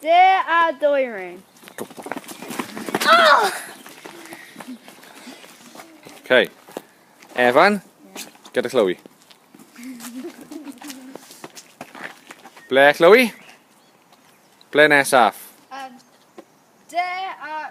De a dwyrin. Oh! Okay. Evan, gyda Chloe. Ble, Chloe? Ble nesaf? Um, de a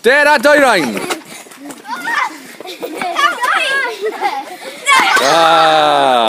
Dare a Doirain! Ah!